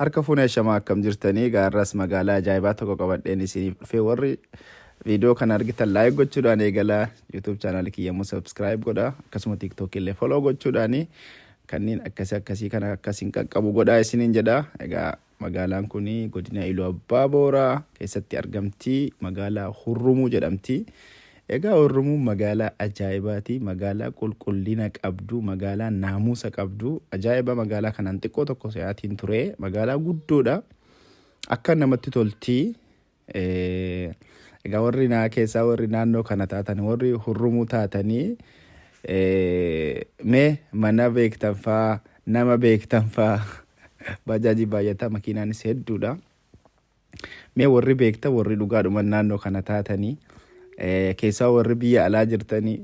Harka fuune ashamaa akkam jirtanii gaarraas magaalaa ajaa'ibaa tokko qabadheen isiniif dhufee warri viidiyoo kana argitan laayik gochuudhaan eegala yuutuub chaanaal kiyya immoo sabskiraayib godha akkasuma tiiktookii illee foloo gochuudhaan kanneen akkasii akkasii kana akkasiin qaqqabu godhaa isiniin jedha egaa magaalaan kun godina iluu abbaa booraa keessatti argamti magaalaa hurrumuu jedhamti Egaa Orromoon magaalaa ajaa'ibaati, magaalaa qulqullina qabdu, magaalaa naamuusa qabdu, ajaa'iba magaalaa kanaan xiqqoo tokko se'aatiin ture, magaalaa guddoodha, akka namatti tolti. Egaa warri naa keessaa warri naannoo kana taatan warri hurrumuu taatanii mee mana beektan faa nama beektan faa baajaajii baay'ataa makiinaanis hedduudha. Mee warri beektan warri dhugaadhuman naannoo kana taatanii eh, keessaa warri biyya alaa jirtanii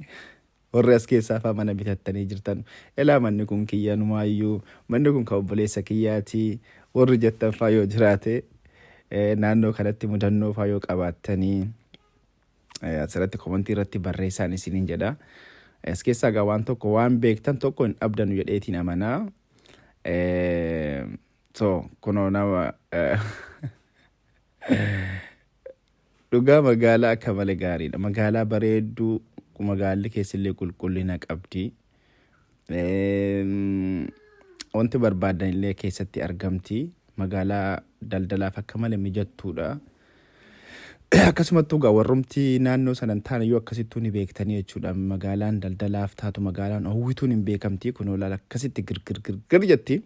warri as keessaa faa mana bitattanii jirtan elaa manni kun kiyyanumaayyuu manni kun kan obboleessa kiyyaati warri jettan faa yoo jiraate eh, naannoo kanatti mudannoo faa yoo qabaattanii eh, asirratti komantii irratti barreessaan isiniin jedha. Eh, As keessaa gaa waan tokko waan beektan tokko hin dhabdanu jedheetiin amanaa. Eh, So kunoo nama dhugaa magaalaa akka malee gaariidha. Magaalaa bareedduu magaalli keessillee qulqullina qabdi. Eem, Wanti barbaadan illee keessatti argamti. Magaalaa daldalaaf akka malee mijattuudha. Akkasumattuu egaa warrumti naannoo sana hin taane yoo akkasittuu ni beektanii jechuudha. Magaalaan daldalaaf taatu magaalaan hawwituun hin beekamti. Kunoo laala akkasitti girgir girgir jetti.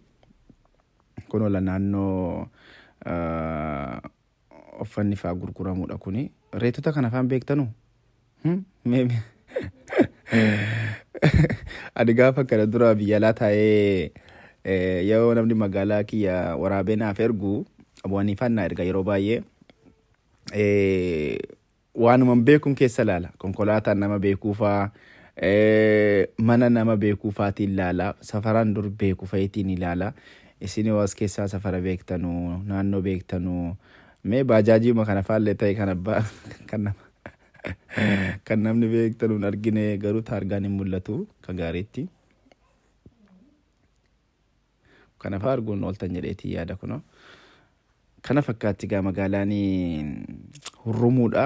Kun ola naannoo uffanni faa gurguramudha kuni. Reetota kana faan beektanu? Ani gaafa kana dura biyya alaa taa'ee yeroo namni magaalaa kiyya waraabee naaf ergu bu'anii faan naa erga yeroo baay'ee. Waanuma hin beekun keessa laala. Konkolaataa nama beekuu faa, mana nama beekuu faatiin laala. Safaraan dur beeku fa'iitiin ilaala. Isin yoo as keessaa safara beektanu, naannoo beektanu, mee baajaajiima kana faallee ta'e kan abbaa kan nama kan namni beektanu hin argine garuu taargaan hin mul'atu kan gaariitti. Kana faa arguun ooltan jedheetii yaada kunoo. Kana fakkaatti gaa magaalaan hurrumuudha.